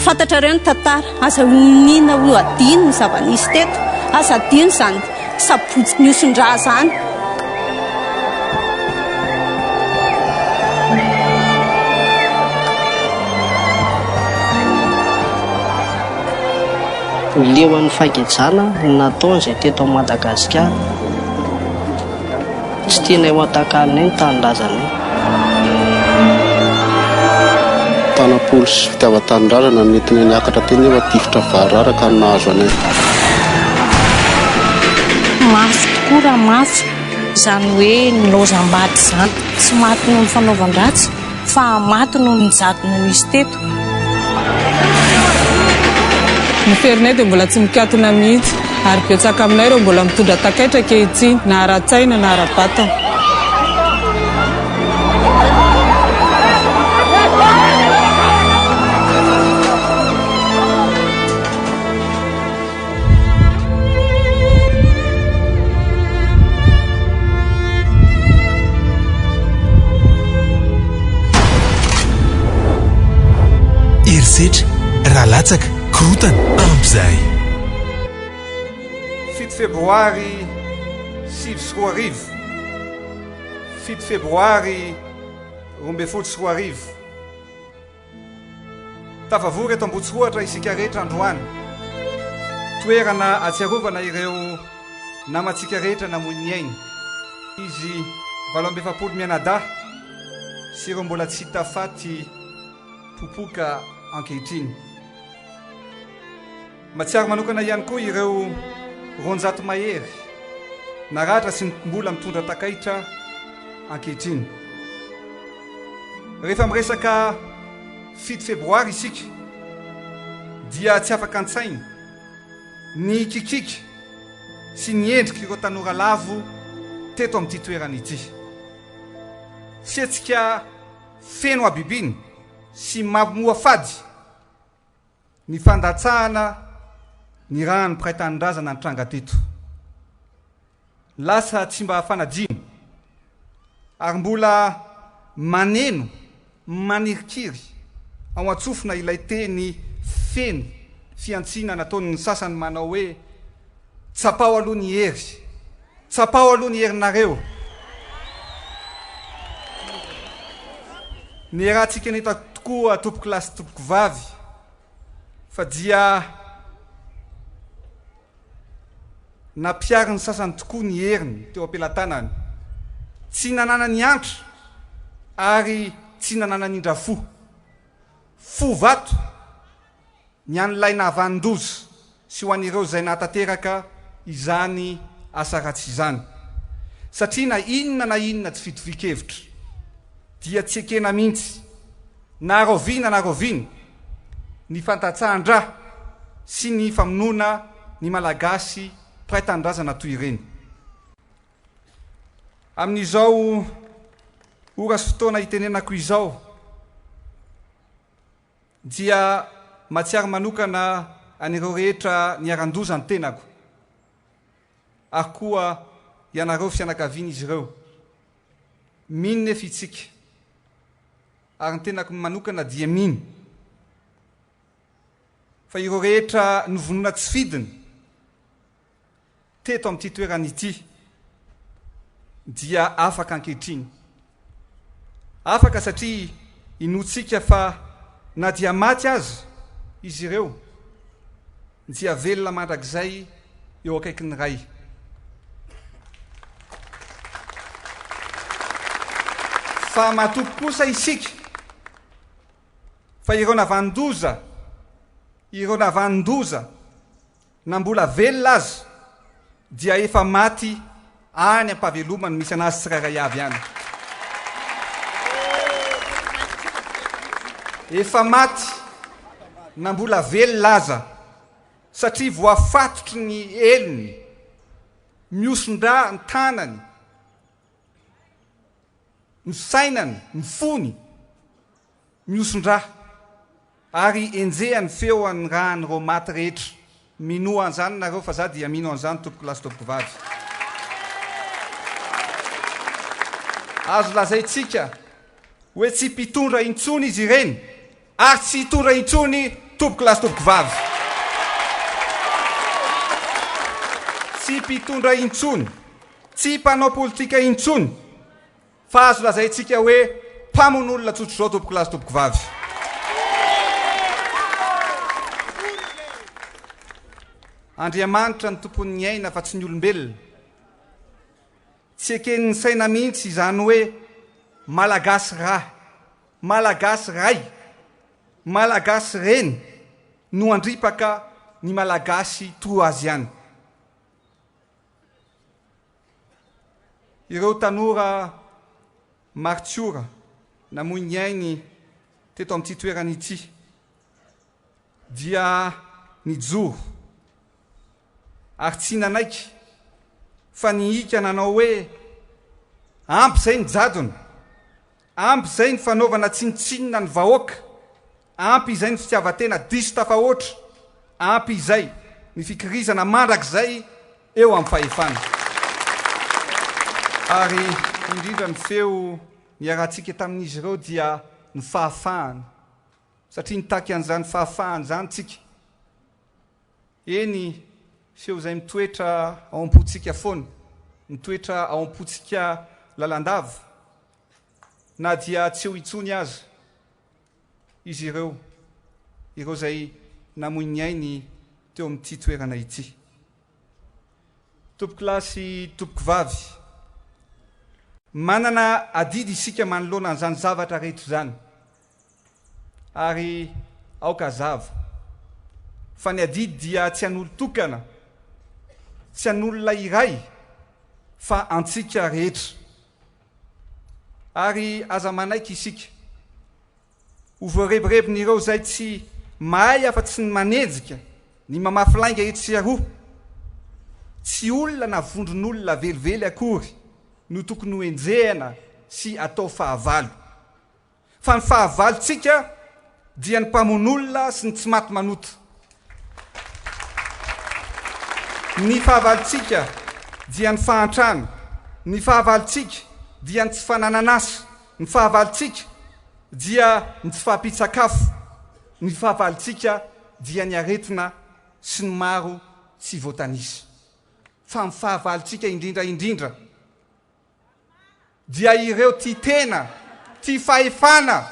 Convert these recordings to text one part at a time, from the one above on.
Fantatrareo ny tantara, aza oniana ho adino ny zava-nisy teto, aza adino izany sabotsy nioson-drà izany. Leo an'ny fagejana nataon'izay teto Madagasikara. Tsy tianay ho antakanay ny tanindrazanay. Tanam-polo sy fitiavan-tanindrazana no nentinay niakatra teny nefa tifitra variraraka no nahazo anay. Mafy tokoa raha mafy izany hoe nilaozam-bady izany. Tsy maty noho ny fanaovan-dratsy fa maty noho ny jadona nisy teto. Ny ferinay dia mbola tsy mikatona mihitsy ary betsaka aminay ireo mbola mitondra takaitra ankehitriny, na ara-tsaina na ara-batana. Herisetra, raha latsaka, korotana, ampy izay. Fito febroary sivy sy roa arivo, fito febroary roa ambin'ny folo sy roa arivo. Tafavory eto Ambotsorohatra isika rehetra androany. Toerana atsiarovana ireo namantsika rehetra namoy ny ainy. Izy valo amby efapolo mianadahy sy ireo mbola tsy hita faty popoka ankehitriny. Matsiaro manokana ihany koa ireo roanjato mahery naratra sy mbola mitondra takaitra ankehitriny. Rehefa miresaka fito febroary isika dia tsy afaka an-tsaina ny kikiky sy ny endriky ireo tanora lavo teto amin'ity toerana ity. Fihetsika feno habibiana sy mamoafady. Ny fandatsahana ny ràn'ny mpiray tanindrazana nitranga teto lasa tsy mba fanajiana ary mbola maneno manirikiry ao an-tsofina ilay teny feno fihantsiana nataon'ny sasany manao hoe Tsapao aloha ny hery. Tsapao aloha ny herinareo. Niarahantsika nita tokoa tompokolahy sy tompokovavy fa dia nampiharin'ny sasany tokoa ny heriny teo am-pelatanany. Tsy nananany antra ary tsy nananany indrafo. Fo vato. ny an'ilay nahavanon-doza sy ho an'ireo izay nahatanteraka izany asa ratsy izany. Satria na inona na inona tsy fitovian-kevitra dia tsy ekena mihitsy, na rahoviana na rahoviana, ny fandatsahan-dra sy ny famonoana ny Malagasy mpiray tanindrazana toy ireny. Amin'izao ora sy fotoana itenenako izao, Dia mahatsiaro manokana an'ireo rehetra niharan-doza ny tenako, ary koa ianareo fianakavian'izy ireo. Mino nefa itsika, ary ny tenako manokana dia mino, fa ireo rehetra novonoina tsy fidiny, teto amin'ity toerana ity dia afaka ankehitriny. Afaka satria inoantsika fa na dia maty aza izy ireo dia velona mandrakizay eo akaikin'ny Ray. Fa matoky kosa isika fa ireo navanon-doza, ireo navanon-doza Na mbola velona aza dia efa maty any am-pahavelomany misy anazy tsirairay avy any. Efa maty na mbola velona aza satria voafatotry ny helony, mihoson-drà ny tanany, ny sainany, ny fony. Mihoson-drà, ary enjeha ny feo an'ny rà an'ireo maty rehetra. Minoa an'izany nareo fa za dia mino an'izany tompoko lahy sy tompoko vavy. Azo lazaintsika hoe tsy mpitondra intsony izy ireny ary tsy hitondra intsony tompoko lahy sy tompoko vavy. Tsy mpitondra intsony, tsy mpanao politika intsony. Fa azo lazaintsika hoe mpamono olona tsotra izao tompoko lahy sy tompoko vavy. Andriamanitra no tompon'ny aina fa tsy ny olombelona. Tsy eken'ny saina mihitsy izany hoe Malagasy ra, Malagasy ray, Malagasy reny no handripaka ny Malagasy toa azy ihany. Ireo tanora maritiora namoy ny ainy teto amin'ity toerana ity dia nijoro ary tsy nanaiky fa nihiaka nanao hoe ampy izay ny jadona. Ampy izay ny fanaovana tsinontsinona ny vahoaka, ampy izay ny fitiavan-tena diso tafahoatra, ampy izay ny fikirizana mandrakizay eo amin'ny fahefana, ary indrindra ny feo niarahantsika tamin'izy ireo dia ny fahafahana, satria nitaky an'izany fahafahana izany isika, eny, feo izay mitoetra ao am-pontsika foana, mitoetra ao am-pontsika lalandava, Na dia tsy ho intsony aza izy ireo, ireo izay namoy ny ainy teo amin'ity toerana ity. Tompokolahy sy tompokovavy, manana adidy isika manoloana an'izany zavatra rehetra izany, Ary aoka hazava, fa ny adidy dia tsy an'olon-tokana, tsy an'olona iray, fa antsika rehetra. Ary aza manaiky isika ho voarebirebin'ireo izay tsy mahay afa-tsy ny manenjika, ny mamafy lainga etsy sy aroa. Tsy olona na vondron'olona velively akory no tokony hoenjehina sy atao fahavalo. Fa ny fahavalontsika dia ny mpamono olona sy ny tsy maty manota. Ny fahavalontsika dia ny fahantrana. Ny fahavalontsika dia ny tsy fananan'asa. Ny fahavalontsika dia ny tsy fahampian-tsakafo. Ny fahavalontsika dia ny aretina sy ny maro tsy voatanisa. Fa ny fahavalontsika indrindra indrindra. dia ireo tia tena, tia fahefana,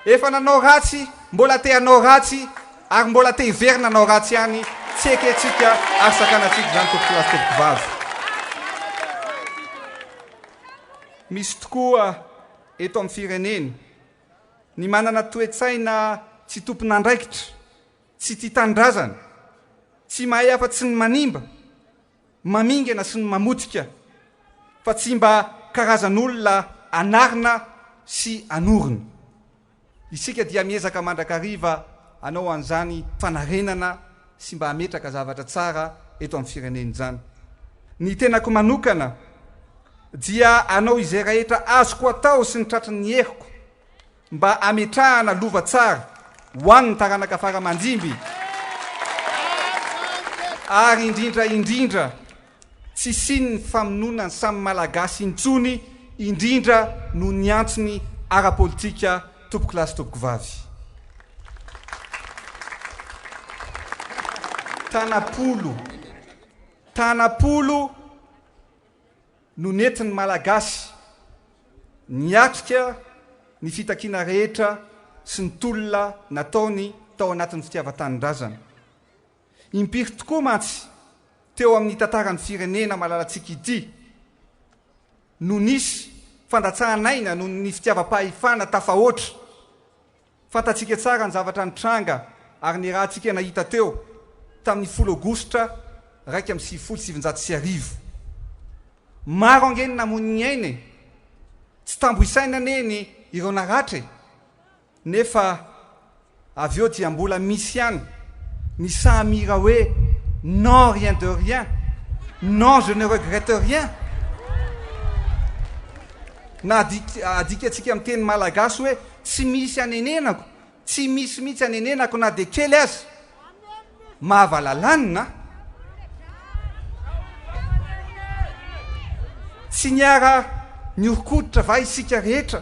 efa nanao ratsy, mbola te hanao ratsy ary mbola te hiverina hanao ratsy ihany, tsy ekentsika ary sakanantsika izany tompokolahy sy tompokovavy. Misy tokoa eto amin'ny firenena ny manana toe-tsaina tsy tompon'andraikitra, tsy tia tanindrazana, tsy mahay afa-tsy ny manimba, mamingana sy ny mamotika fa tsy mba karazan'olona anarina sy anorina. Isika dia miezaka mandrakariva hanao an'izany fanarenana sy mba hametraka zavatra tsara eto amin'ny firenena izany. Ny tenako manokana dia hanao izay rehetra azoko atao sy ny tratry ny heriko Mba ametrahana lova tsara ho an'ny taranaka fara aman-dimby ary indrindra indrindra tsy hisian'ny famonoana ny samy Malagasy intsony indrindra noho ny antsony ara-politika tompokolahy sy tompokovavy. Tanapolo, Tanapolo. no nentin'ny Malagasy niatrika ny fitakiana rehetra sy ny tolona nataony tao anatin'ny fitiavan-tanindrazana. Impiry tokoa mantsy teo amin'ny tantaran'ny firenena malalantsika ity no nisy fandatsahan'aina noho ny fitiavam-pahefana tafahoatra. Fantatsika tsara ny zavatra nitranga ary nirahantsika nahita teo tamin'ny folo Aogositra iraika amby sivifolo sy sivinjato sy arivo. Maro ange ny namoy ny ainy e! Tsy tambo isaina anie ny ireo naratra e! Nefa avy eo dia mbola misy ihany ny saha mihira hoe Non rien de rien, non je ne regrette rien. Na adikantsika amin'ny teny malagasy hoe Tsy misy anenenako, tsy misy mihitsy anenenako na dia kely aza. Mahavalalanina aho. Tsy niara nihoron-koditra va isika rehetra?